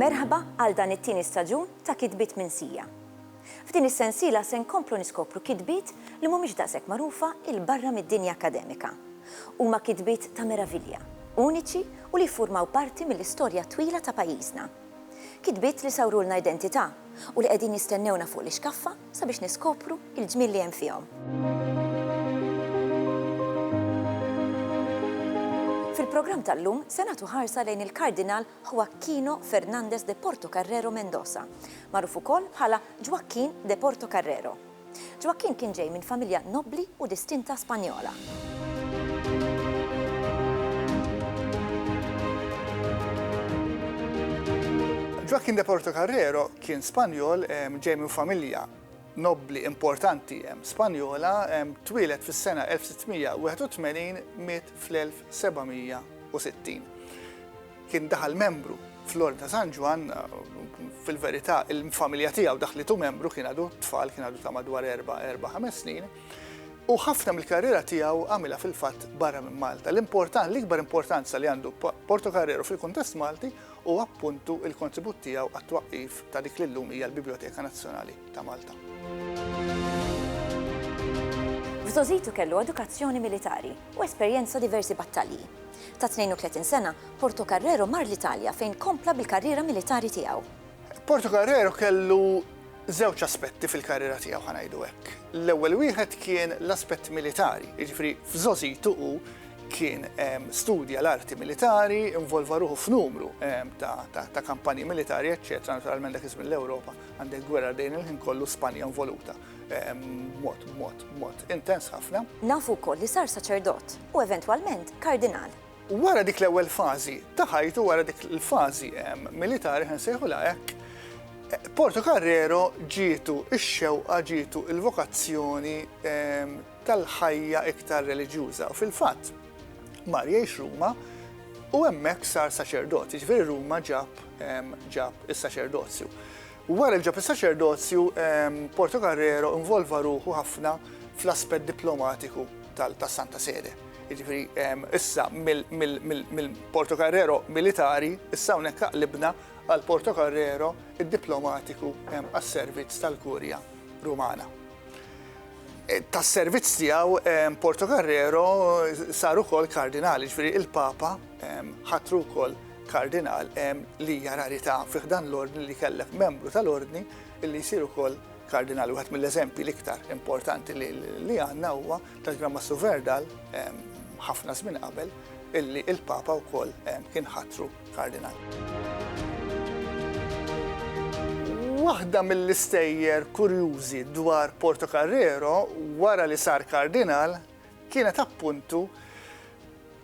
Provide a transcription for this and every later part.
Merħba għal dan it-tieni staġun ta' Kitbiet minn Sija. F'din is-sensiela se nkomplu niskopru kitbiet li mhumiex daqshekk magħrufa il barra mid-dinja akkademika. Huma kitbiet ta' meravilja, uniċi u li jiffurmaw parti mill-istorja twila ta' pajjiżna. Kitbiet li sawrulna identità u li qegħdin jistennewna fuq l-ixkaffa sabiex niskopru l-ġmiel li hemm fihom. Fil-programm tal-lum se nagħtu ħarsa lejn il-Kardinal Joaquino Fernández de Portocarrero Mendoza, magħruf ukoll bħala Ġwakkin de Portocarrero. Ġwakkinn kien ġej minn familja nobbli u distinta Spanjola. Ġwakkinn de Portocarrero kien Spanjol ġej minn familja nobbli importanti Spanjola, twieled fis-sena 1681, miet fl-1760. Kien daħal membru fl-Ordni ta' San Ġwann, fil-verità il-familja tiegħu daħlitu membru kien għadu tfal, kien għadu ta' madwar erba', erba', ħames snin, u ħafna mill-karriera tiegħu għamilha fil-fatt barra minn Malta. L-importan, l-ikbar importanza li għandu Portocarrero fil-kuntest Malti huwa appuntu l-kontribut tiegħu għat-twaqqif ta' dik li llum hija l-Bibljoteka Nazzjonali ta' Malta. F'żgħożitu kellu edukazzjoni militari u esperjenza diversi battalji. Ta' 32 sena, Portocarrero mar l-Italja fejn kompla bil-karriera militari tiegħu. Portocarrero kellu żewġ aspetti fil-karriera tiegħu, ħa ngħidu hekk. L-ewwel wieħed kien l-aspett militari, jiġifieri f'żgħożitu hu kien studja l-arti militari, involva ruħu f'numru ta' kampanji militari, eċċetera, naturalment dak iż-żmien l-Ewropa għandek gwerra dejn il-ħin kollu, Spanja involuta. mod, mod, mod, intens ħafna. Nafu wkoll li sar saċerdot u eventwalment kardinal. Wara dik l-ewwel fażi ta' ħajtu wara dik il-fażi militari ħen sejħu hekk, Porto Carrero ġietu ix-xewqa ġietu il-vokazzjoni tal-ħajja iktar reliġjuża. Fil-fatt, mar jgħix Ruma u hemmhekk sar saċerdot, jiġifieri Ruma ġab ġab is-saċerdozju. Wara li ġab is-saċerdozju, Portocarrero involva ruħu ħafna fl-aspett diplomatiku tas-Santa Sede. Jiġifieri issa mill-Portocarrero militari, issa hawnhekk aqlibna għal Portocarrero id-diplomatiku għas-servizz tal-Kurja Rumana. tas-servizz tiegħu Portocarrero sar ukoll kardinal, ġifieri il-Papa ħatru wkoll kardinal li hija rarità fi ħdan l-ordni li kellek membru tal-ordni li jsir ukoll kardinal. Wieħed mill-eżempji l-iktar importanti li għandna huwa tal-Gran Massu Verdal ħafna żmien qabel illi il-Papa wkoll kien ħatru Kardinal. Waħda mill-istejjer kurjużi dwar Portocarrero wara li sar Kardinal kienet appuntu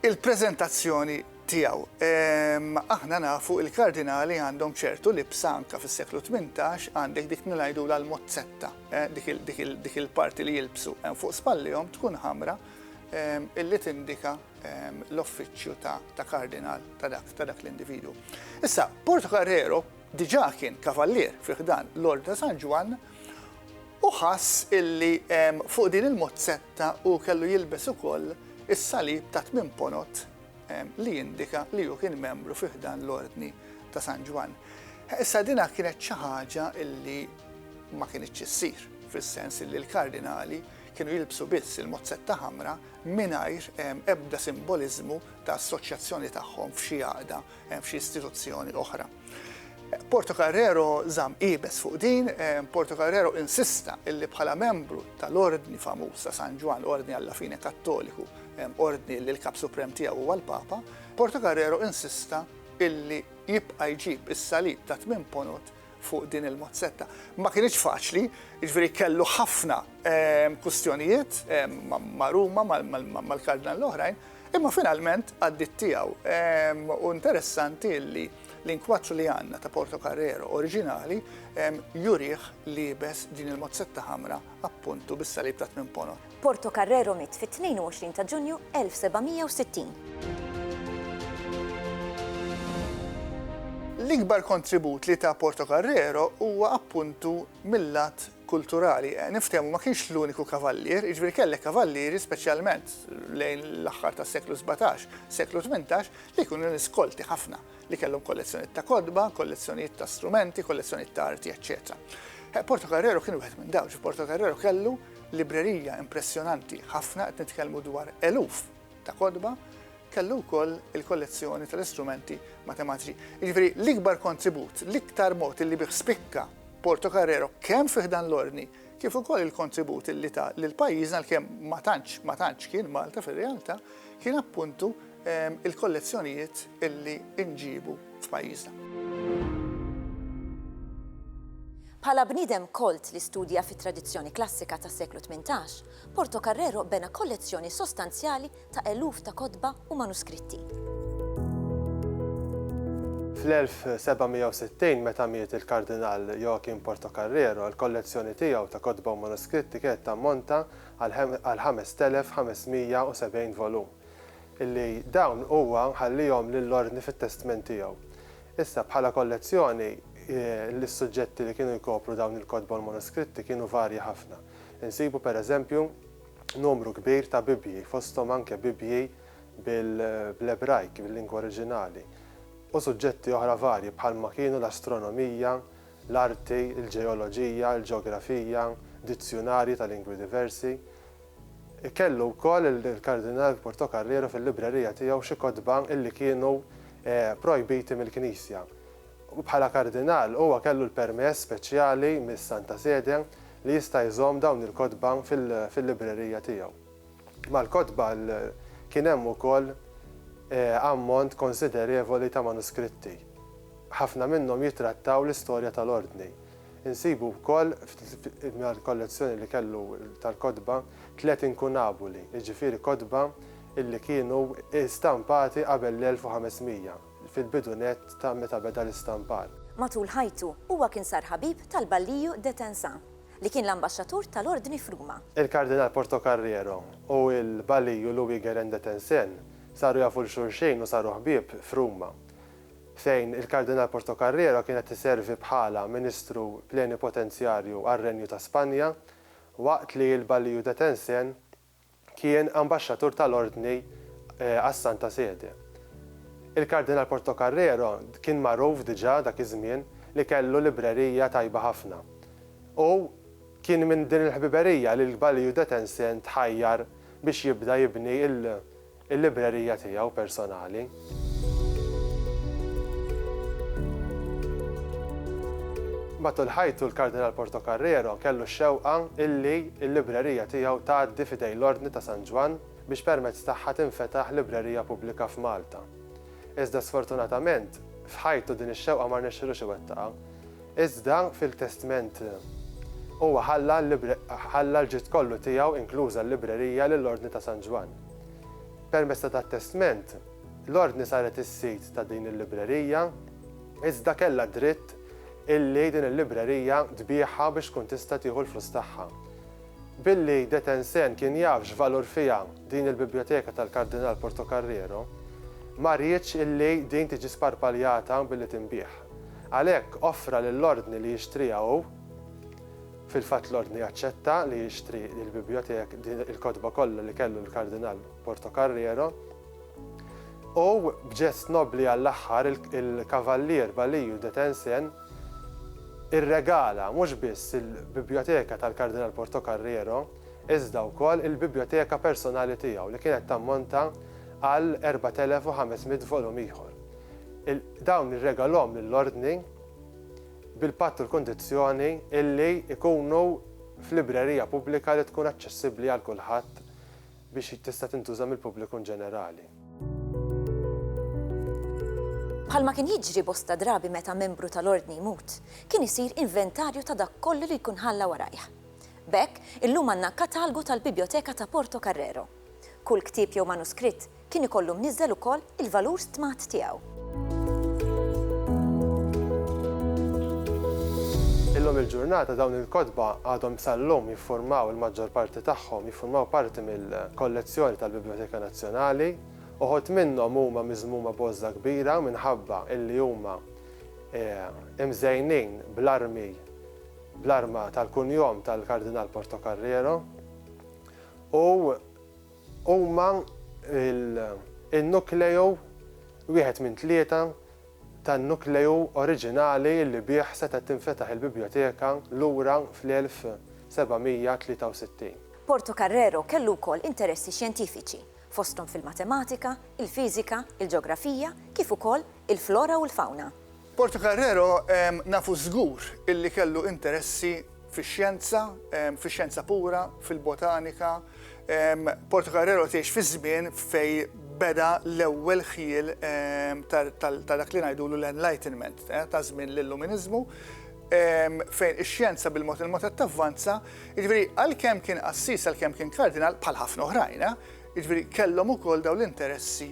il-preżentazzjoni tiegħu. Ehm, aħna nafu il-kardinali għandhom ċertu libsa anka fis-seklu 18 għandek dik nilajdu l-mozzetta, eh, dik il-parti li jilbsu hemm eh, fuq spallihom tkun ħamra ehm, illi tindika l-offiċċju ta' kardinal ta' dak l-individwu. Issa, Portocarrero diġà kien kavallier fi ħdan l-Ordni ta' San Ġwann u ħass illi fuq din il-mozzetta hu kellu jilbes ukoll is-salib ta' tmien ponot li jindika li hu kien membru fi ħdan l-Ordni ta' San Ġwann. Issa dina kienet xi ħaġa illi ma kinitx issir, fis-sens illi l-kardinali kienu jilbsu biss il-mozzetta ħamra mingħajr ebda simboliżmu ta' assoċjazzjoni tagħhom f'xi għaqda, f'xi istituzzjoni oħra. Portocarrero żamm iebes fuq din, Portocarrero insista illi bħala membru tal-ordni famuż ta' San Ġwann, ordni alla fine Kattoliku, ordni li l-Kap Suprem tiegħu huwa l-Papa, Portocarrero insista illi jibqa' jġib is-salib ta' tmien ponot fuq din il-mozzetta. Ma kinitx faċli, jiġifieri kellu ħafna kwistjonijiet ma' Ruma, mal-Kardinal l-oħrajn, imma finalment għaddiet tiegħu. U interessanti li l-inkwaċċ li għandna ta' Portocarrero oriġinali jurih liebes din il-mozzetta ħamra appuntu bis-salib ta' tmien ponot. Portocarrero miet fit-22 ta' Ġunju 1760. L-ikbar kontribut li ta Portocarrero huwa appuntu mil-lat kulturali. Niftehmu, ma kienx l-uniku kavallier, jiġifieri kellek kavallieri, speċjalment lejn l-aħħar tas-seklu sbatax, seklu tmintax, li kienu nies kolti ħafna, li kellhom kollezzjonijiet ta' kotba, kollezzjonijiet ta' strumenti, kollezzjonijiet ta' arti, eċċetera. Portocarrero kien wieħed minn dawn, ġifieri Portocarrero kellu librerija impressjonanti ħafna, qed nitkellmu dwar eluf ta' kotba, kellu wkoll il-kollezzjoni tal-istrumenti matematiċi. Jiġifieri l-ikbar kontribut, l-iktar mod illi bih spikka Porto Carrero kemm fi ħdan l-Ordni kif ukoll il-kontribut illi ta lil pajjiżna għalkemm ma tantx ma tantx kien Malta fir-realtà kien appuntu il-kollezzjonijiet illi nġibu f'pajjiżna. Bħala bniedem kolt li studja fit-tradizzjoni klassika tas-seklu tmintax, Portocarrero bena kollezzjoni sostanzjali ta' eluf ta' kotba u manuskritti. Fl-1760, meta miet il-Kardinal Joachim Portocarrero, il-kollezzjoni tiegħu ta' kotba u manuskritti kienet tammonta għal 5,570 volum. li dawn huwa ħallihom lill-Ordni fit-testment tiegħu. Issa, bħala kollezzjoni, is-suġġetti li kienu jkopru dawn il-kotba u l-manuskritti kienu varji ħafna. Insibu, per eżempju, numru kbir ta' Bibbji, fosthom anke Bibbji bl-Ebrajk, bil-lingwa oriġinali, u suġġetti oħra varji bħalma kienu l-astronomija, l-arti, il-ġeoloġija, il-ġeografija, dizzjunarji ta' lingwi diversi, Kellu wkoll il-Kardinal Portocarrero fil-librerija tiegħu xi kotba li kienu projbiti mill-Knisja. Bħala Kardinal, huwa kellu l-permess speċjali mis-Santa Sede li jista' jżomm dawn il-kotba fil-librerija tiegħu. Mal-kotba kien hemm ukoll ammont konsiderevoli ta' manuskritti. Ħafna minnhom jittrattaw l-istorja tal-Ordni. Insibu wkoll mal-kollezzjoni li kellu tal-kotba tliet inkunabuli, jiġifieri kotba li kienu stampati qabel l-1500, fil-bidu nett ta' meta beda l-istampar. Matul ħajtu, huwa kien sar ħabib tal-Balliu de Tensà, li kien l-ambaxxatur tal-Ordni f'Ruma. Il-Kardinal Portocarrero u l-Balliu Louis-Guérin de Tencin saru jafu 'l xulxejn u saru ħbieb f'Ruma. fejn il-Kardinal Portocarrero kien qed iservi bħala Ministru Plenipotenzjarju għar-Renju ta' Spanja, waqt li l-Baliju de Tencin kien Ambaxxatur tal-Ordni għas-Santa Sede. Il-Kardinal Portocarrero kien magħruf diġà dak iż-żmien li kellu librerija tajba ħafna u kien minn din il-ħbiberija li l-Baliju de Tencin tħajjar biex jibda jibni l il-librerija tiegħu personali. Matul ħajtu l-Kardinal Portocarrero kellu x-xewqa illi l-librerija tiegħu tgħaddi f'idejn l-Ordni ta' San Ġwann biex permezz tagħha tinfetaħ librerija pubblika f'Malta. Iżda sfortunatament, f'ħajtu din ix-xewqa ma rnexxilux iwettaqha. Iżda fil-testment huwa ħalla l-ġid kollu tiegħu inkluża l-librerija lill-Ordni ta' San Ġwann. Permezz ta' dat-testment, l-Ordni saret is-sid ta' din il-librerija, iżda kellha d-dritt illi din il-librerija tbiegħha biex tkun tista' tieħu l-flus tagħha. Billi de Tencin kien jaf x'valur fiha din il-bibljoteka tal-Kardinal Portocarrero, ma riedx illi din tiġi sparpaljata billi tinbiegħ. Għalhekk offra lill-Ordni li jixtriha hu. Fil-fatt l-Ordni aċċetta li jixtri lill-Bibliothèque din il-kotba kollha li kellu l-Kardinal Portocarrero, u b'ġest nobbli għall-aħħar il-Kavallier Baliju de Tencin irregala mhux biss il-Biblioteka tal-Kardinal Portocarrero iżda wkoll il-biblioteka personali tiegħu li kienet tammonta għal 4,500 volum ieħor. Dawn irregalhom lill-Ordni bil-patt u l-kundizzjoni illi jkunu f'librerija pubblika li tkun aċċessibbli għal kulħadd biex tista' tintuża mill-pubbliku inġenerali. Bħalma kien jiġri bosta drabi meta membru tal-Ordni jmut, kien isir inventarju ta' dak kollu li jkun ħalla warajh. B'hekk, illum għandna katalgu tal-Bibjoteka ta' Porto Carrero. Kull ktieb jew manuskritt kien ikollu mniżżel ukoll il-valur stmat tiegħu. Illum il-ġurnata dawn il-kotba għadhom sal-lum jiffurmaw il-maġġor parti tagħhom jiffurmaw parti mill-kollezzjoni tal-Bibljoteka Nazzjonali. Uħud minnhom huma miżmuma b'għożża kbira minħabba illi huma imżejnin bl-armi bl-arma tal-kunjom tal-Kardinal Portocarrero. u huma l-nukleu wieħed minn tlieta tan-nukleu oriġinali li bih setgħet tinfetaħ il-Bibljoteka lura fl-1763. Portocarrero kellu wkoll interessi xjentifiċi, fosthom fil-matematika, il-fiżika, il-ġeografija kif ukoll il-flora u l-fawna. Portocarrero nafu żgur illi kellu interessi fix-xjenza, fix-xjenza pura, fil-botanika. Portocarrero tgħix fiż-żmien fejn beda l-ewwel ħjiel ta' dak li ngħidulu l-Enlightenment, ta' żmien l-Illuminiżmu, fejn ix-xjenza bil-mod il-mod qed tavvanza. Jiġifieri għalkemm kien qassis, għalkemm kien kardinal, bħal ħafna oħrajn, jiġifieri kellhom ukoll dawn l-interessi.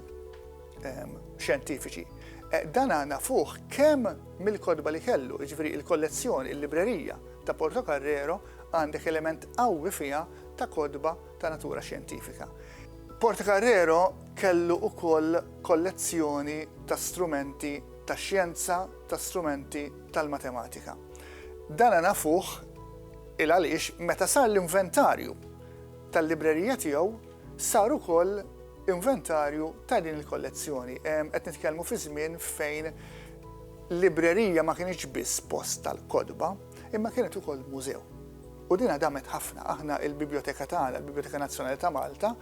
xjentifiċi. Eh, dan għana fuħ kem mill-kodba li kellu, ġviri il-kollezzjoni, il-librerija ta' Porto Carrero għandek element qawwi fija ta' kodba ta' natura xjentifika. Porto Carrero kellu u koll kollezzjoni ta' strumenti ta' xjenza, ta' strumenti tal-matematika. Dan għana fuħ il-għalix meta sar l-inventarju tal-librerija tiegħu saru koll inventarju ta' din il-kollezzjoni. Qed nitkellmu fi żmien fejn librerija ma kienx biss post tal-kotba, imma kienet ukoll mużew. U dina damet ħafna, aħna il-biblioteka tagħna, il-Biblioteka Nazzjonali ta' Malta,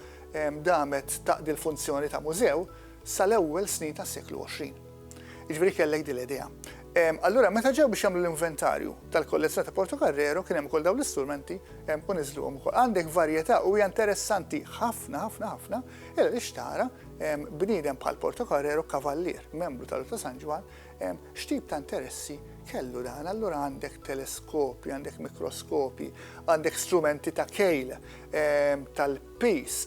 damet taqdi l-funzjoni ta' mużew sal-ewwel snin tas-seklu 20. Jiġifieri kellek din l-idea. Allura meta ġew biex jagħmlu l-inventarju tal-kollezzjoni ta' Portocarrero kien hemm ukoll dawn l-istrumenti u niżluhom ukoll. Għandek varjetà u hija interessanti ħafna ħafna ħafna illa li xtara bniedem bħal Portocarrero kavallier, membru tal-Ordni ta' San Ġwann, x'tip ta' interessi kellu dan. Allura għandek teleskopi, għandek mikroskopi, għandek strumenti ta' kejl tal-pis,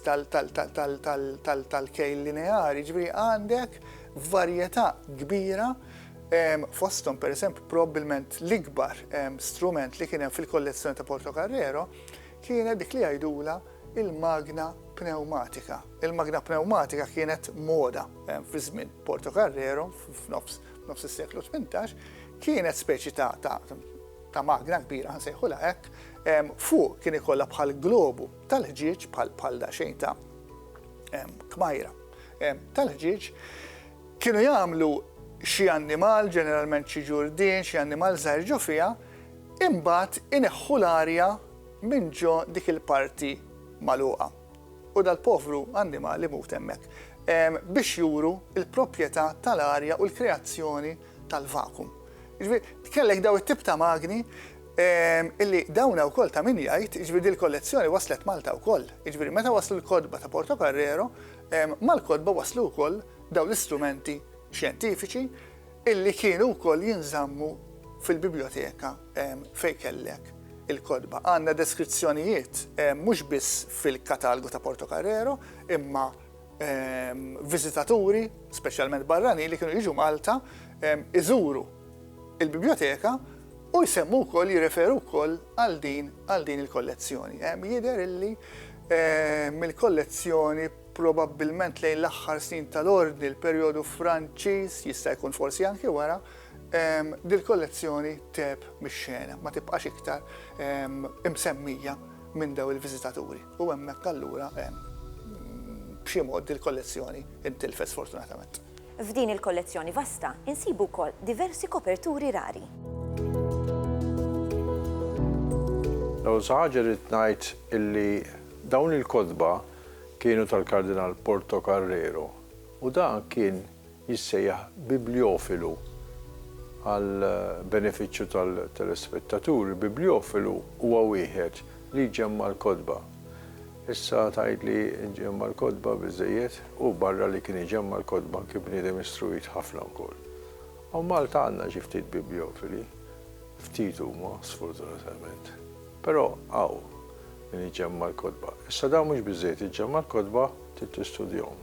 tal-kejl lineari, ġifieri għandek varjetà kbira fosthom pereżempju probabbilment l-ikbar strument li kien hemm fil-kollezzjoni ta' Portocarrero kienet dik li jgħidulha il-magna pneumatika. Il-magna pneumatika kienet moda fi żmien Portocarrero f'nofs nofs is-seklu 18 kienet speċi ta' ta' ta' magna kbira nsejħulha hekk fuq kien ikollha bħal globu tal-ħġieġ bħal bħal daqsxejn ta' kmajra tal-ħġieġ, kienu jagħmlu xi annimal, ġeneralment xi ġurdien, xi annimal żgħir ġo fiha, imbagħad ineħħu l-arja minn ġo dik il-parti magħluqa. U dal-povru annimal imut hemmhekk. Biex juru l-proprjetà tal-arja u l-kreazzjoni tal-vakum. Jiġifieri kellek daw it-tip ta' magni illi dawna wkoll ta' min jgħid, jiġifieri dil-kollezzjoni waslet Malta wkoll. Jiġifieri meta waslu l-kotba ta' Portocarrero, Mal-kotba waslu wkoll dawn l-istrumenti xjentifiċi illi kienu wkoll jinżammu fil-bibljoteka fejn kellek il-kotba. Għandna deskrizzjonijiet mhux biss fil-katalgu ta' Portocarrero imma viżitaturi, speċjalment barranin, li kienu jiġu Malta iżuru l-bibljoteka u jsemmu wkoll, jirreferu wkoll għal din il-kollezzjoni. Jidher illi mill-kollezzjoni probabbilment lejn l-aħħar snin tal-Ordni, l-perjodu Franċiż, jista' jkun forsi anki wara, dil-kollezzjoni tgħeb mix-xena, ma tibqax iktar imsemmija minn dawn il-viżitaturi u hemmhekk allura b'xi mod dil-kollezzjoni ntilfet sfortunatament. F'din il-kollezzjoni vasta insibu wkoll diversi koperturi rari. L-ewwel xi ħaġa rrid ngħid illi dawn il-kotba kienu tal-Kardinal Porto Carrero u dan kien jissejjaħ bibljofilu. Għal benefiċċju tal-telespettaturi, bibljofilu huwa wieħed li jġemma' l-kotba. Issa tgħid li nġemma' l-kotba biżżejjed? Hu barra li kien iġemma' l-kotba kien bniedem istruit ħafna wkoll. Hawn Malta għandna xi ftit bibliofili, ftit huma sfortunatament. Però hawn min iġemma' l-kotba. Issa dan mhux biżżejjed iġġemma' l-kotba, trid tistudjahom.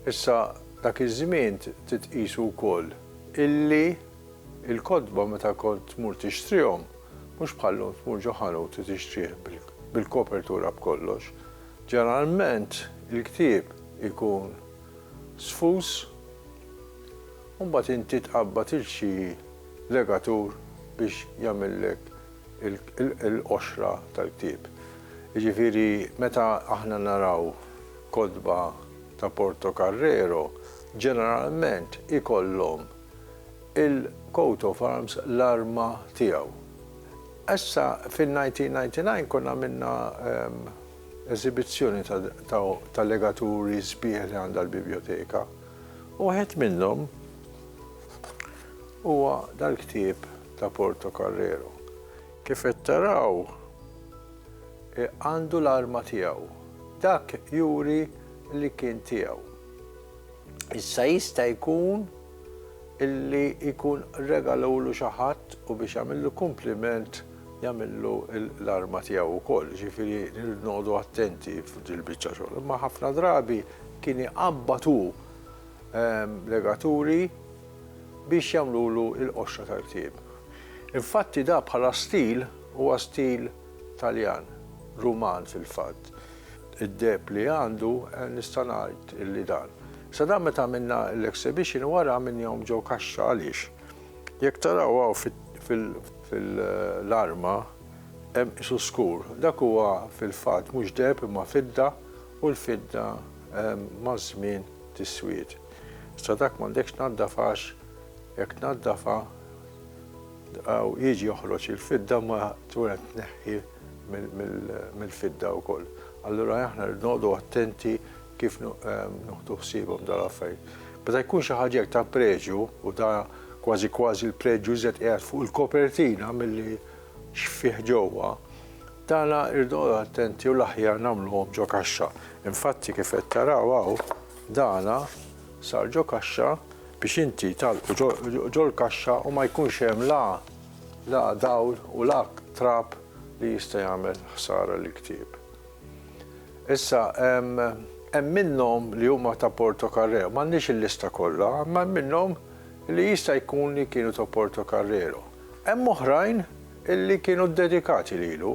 Issa dak iż-żmien trid tqisu wkoll illi Il-kotba meta kont tmur tixtrihom, mhux bħal-lum tmur ġo ħanut u tixtrih bil-kopertura b'kollox. Ġeneralment il-ktieb ikun sfus u mbagħad inti tqabbad il xi legatur biex jagħmillek il-qoxra tal-ktieb. Jiġifieri meta aħna naraw kotba ta' Portocarrero, ġeneralment ikollhom il-coat of arms, l-arma tiegħu. Issa fin-1999 konna għamilna eżibizzjoni ta' legaturi sbieħ li għandha l-Bibljoteka u wieħed minnhom huwa dal-ktieb ta' Portocarrero. Kif qed taraw għandu l-arma tiegħu. Dak juri li kien tiegħu. Issa jista' jkun illi jkun regalawlu xi ħadd u biex jagħmillu kumpliment jagħmillu l-arma tiegħu wkoll, ġifieri nirridu noqogħdu attenti f'dil-biċċa xogħol. Imma ħafna drabi kien iqabbad hu ehm, legaturi biex jagħmlulu l-qoxra tal-ktieb. Infatti da bħala stil huwa stil Taljan, Ruman fil-fatt. Id-deheb li għandu nista' ngħid li dan. Sa dan meta għamilna l-exhibition u wara għamilnihom ġo kaxxa għaliex jekk taraw hawn fil-arma hemm qisu skur. Dak huwa fil-fatt mhux deheb imma fidda u l-fidda maż-żmien tiswied. Sa dak m'għandekx tnaddaf għax jekk tnaddafha, Hawn jiġi joħroġ il-fidda ma tkun qed tneħħi mill-fidda wkoll. Allura aħna rridu noqogħdu attenti kif nuħdu ħsiebhom dawn l-affarijiet. Meta jkun xi ħaġa hekk ta' preġju u da kważi kważi l-preġju iżjed qiegħed fuq il-kopertina milli x'fih ġewwa, dan irridu noqogħdu attenti u l-aħjar nagħmluhom ġo kaxxa. Infatti kif qed taraw hawn, dan sar ġo kaxxa biex inti tagħlqu ġol-kaxxa u ma jkunx hemm la la dawl u la trab li jista' jagħmel ħsara lill-ktieb. Issa hemm hemm minnhom li huma ta' Portocarrero, m'għandniex il-lista kollha, imma hemm minnhom li jista' jkun li kienu ta' Portocarrero. Hemm oħrajn illi kienu ddedikati lilu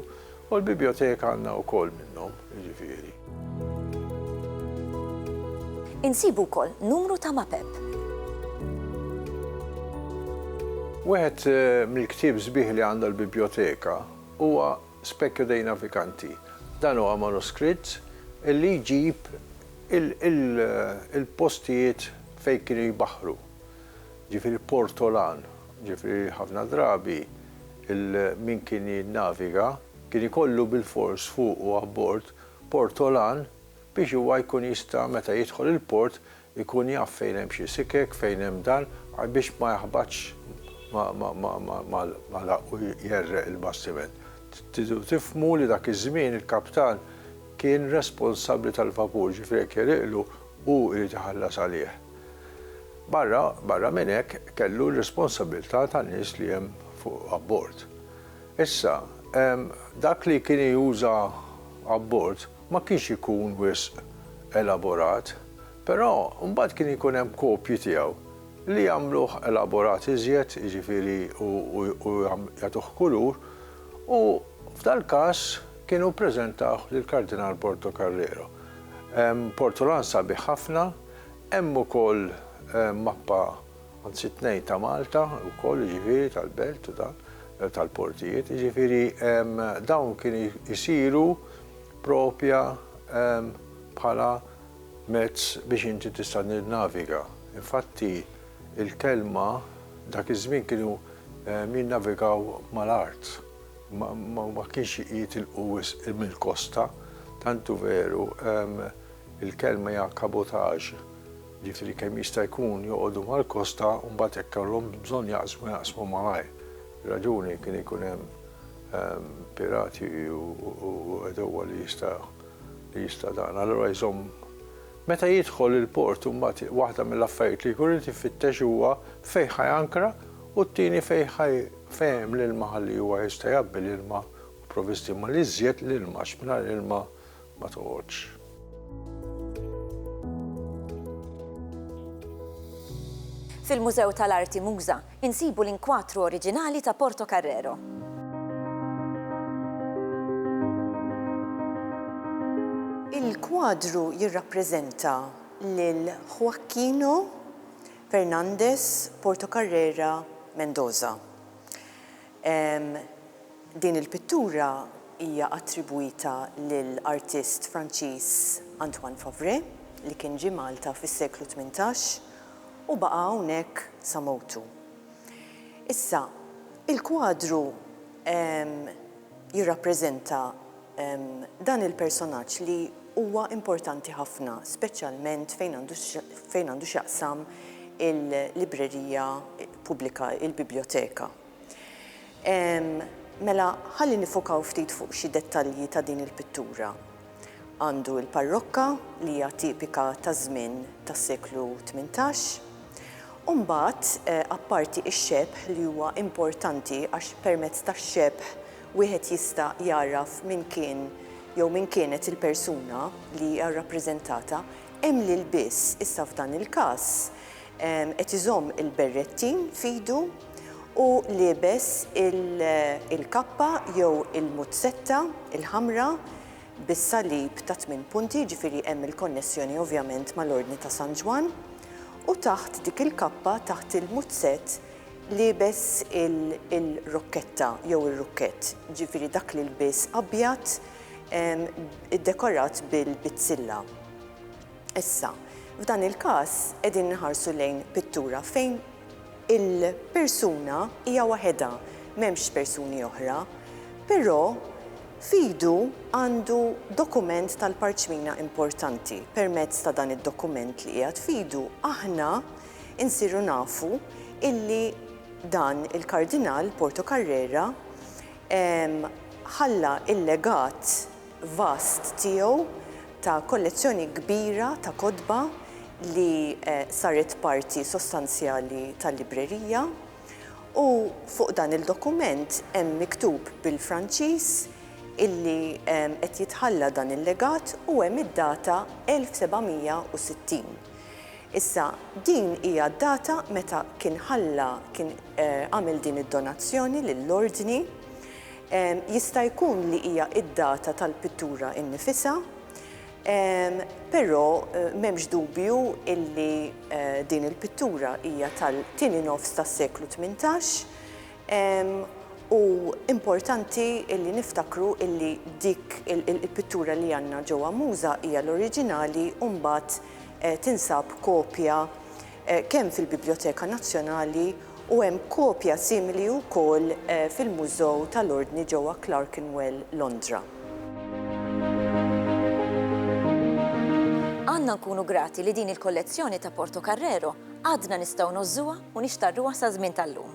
U l-bibjoteka għandna wkoll minnhom, jiġifieri. Insibu wkoll numru ta' mapep. Wieħed mill-ktieb sbieħ li għandha l-bibjoteka huwa Specchio dei Navicanti. Dan huwa manuskritt li jġib il-postijiet fejn kienu jbaħħru. Jiġifieri Portolan, jiġifieri ħafna drabi il min kien jinnaviga kien ikollu bilfors fuqu abbord portolan biex huwa jkun jista' meta jidħol il-port ikun jaf fejn hemm xi sikek, fejn hemm dan, biex ma jaħbatx mal-għaraq u jgħerreq il-bastiment. Tridu tifhmu li dak iż-żmien il-kaptan kien responsabbli tal-vapur, ġifieri jekk jegħriqlu hu jrid iħallas għalih. Barra barra minn hekk kellu r-responsabilità tan-nies li hemm fuq abbord. Issa, dak li kien juża abbord ma kienx ikun wisq elaborat, però mbagħad kien ikun hemm kopji tiegħu li jagħmluh elaborat iżjed, jiġifieri u jagħtuh kulur, u f'dal-każ kienu ppreżentawh lill-Kardinal Portocarrero. Hemm portolan sabiħ ħafna Hemm ukoll mappa, anzi tnejn ta' Malta wkoll jiġifieri tal-belt u dan, tal-portijiet, jiġifieri dawn kienu jsiru propja bħala mezz biex inti tista' tinnaviga. Infatti l-kelma dak iż-żmien kienu jinnavigaw mal-art, ma kienx jitilqu wisq mill-kosta, tant hu veru Il-kelma hija kabotaġ, jiġifieri kemm jista' jkun joqogħdu mal-kosta u mbagħad jekk kellhomx bżonn jaqsmu jaqsmu malajr. Ir-raġuni kien ikun hemm pirati u għedewwa li jista' li jista' dan. Allura jżomm Meta jidħol il-port imbagħad waħda mill-affarijiet li jkun irid ifittex huwa fejn ħa jankra u t-tieni fejn ħa fejn hemm l-ilma ħalli huwa jista' jgħabbi l-ilma u provvisti mal-iżjed l-ilma għax mingħajr ilma ma toqgħodx. Fil-Mużew tal-Arti Muża insibu l-inkwatru oriġinali ta' Portocarrero. Il-kwadru jirrappreżenta lil Joaquino Fernández Portocarrera Mendoza. Din il-pittura hija attribwita lil artist Franċiż Antoine Favré li kien ġie Malta fis-seklu tmintax u baqa' hawnhekk sa mewtu. Issa, il-kwadru jirrappreżenta dan il-personaġġ li huwa importanti ħafna, speċjalment fejn għandu fejn għandu x'jaqsam il-librerija pubblika, il-bibljoteka. Ehm, mela ħalli nifokaw ftit fuq xi dettalji ta' din il-pittura. Għandu l-parrokka li hija tipika taż-żmien tas-seklu tmintax. U mbagħad, eh, apparti x-xebh li huwa importanti għax permezz tax-xebh wieħed jista' jagħraf min kien jew min kienet il-persuna li hija rrappreżentata, hemm l-ilbies, issa f'dan il-każ, Qed iżomm il-berrettin f'idu u liebes il-kappa jew il-muzzetta l-ħamra bis-salib ta' tmien punti, jiġifieri hemm il-konnessjoni ovvjament mal-Ordni ta' San Ġwann, u taħt dik il-kappa, taħt il-muzzett, liebes il-rokketta jew ir-rukkett, jiġifieri dak l-ilbies abjad iddekorat bil-bizzilla. Issa, f'dan il-każ qegħdin inħarsu lejn pittura fejn il-persuna hija waħedha, m'hemmx persuni oħra, però f'idu għandu dokument tal-parċmina importanti. Permezz ta' dan id-dokument li qiegħed f'idu aħna nsiru nafu illi dan il-Kardinal Portocarrera ħalla l-legat vast tiegħu ta' kollezzjoni kbira ta' kotba li saret parti sostanzjali tal-librerija u fuq dan il-dokument hemm miktub bil-Franċiż illi qed jitħalla dan il-legat u hemm id-data 1760. Issa, din hija d-data meta kien ħalla, kien għamel din id-donazzjoni lill-Ordni Jista' jkun li hija d-data tal-pittura innifisha, però m'hemmx dubju illi din il-pittura hija tal-tieni nofs tas-seklu tmintax u importanti illi niftakru illi dik il-pittura li għandna ġewwa Muża hija l-oriġinali u mbagħad tinsab kopja kemm fil-Bibljoteka Nazzjonali u hemm kopja simili wkoll fil-Mużew tal-Ordni ġewwa Clerkenwell, Londra. Għandna nkunu grati li din il-kollezzjoni ta' Portocarrero għadna nistgħu ngħożżuha u nixtarruha saz-żmien tal-lum.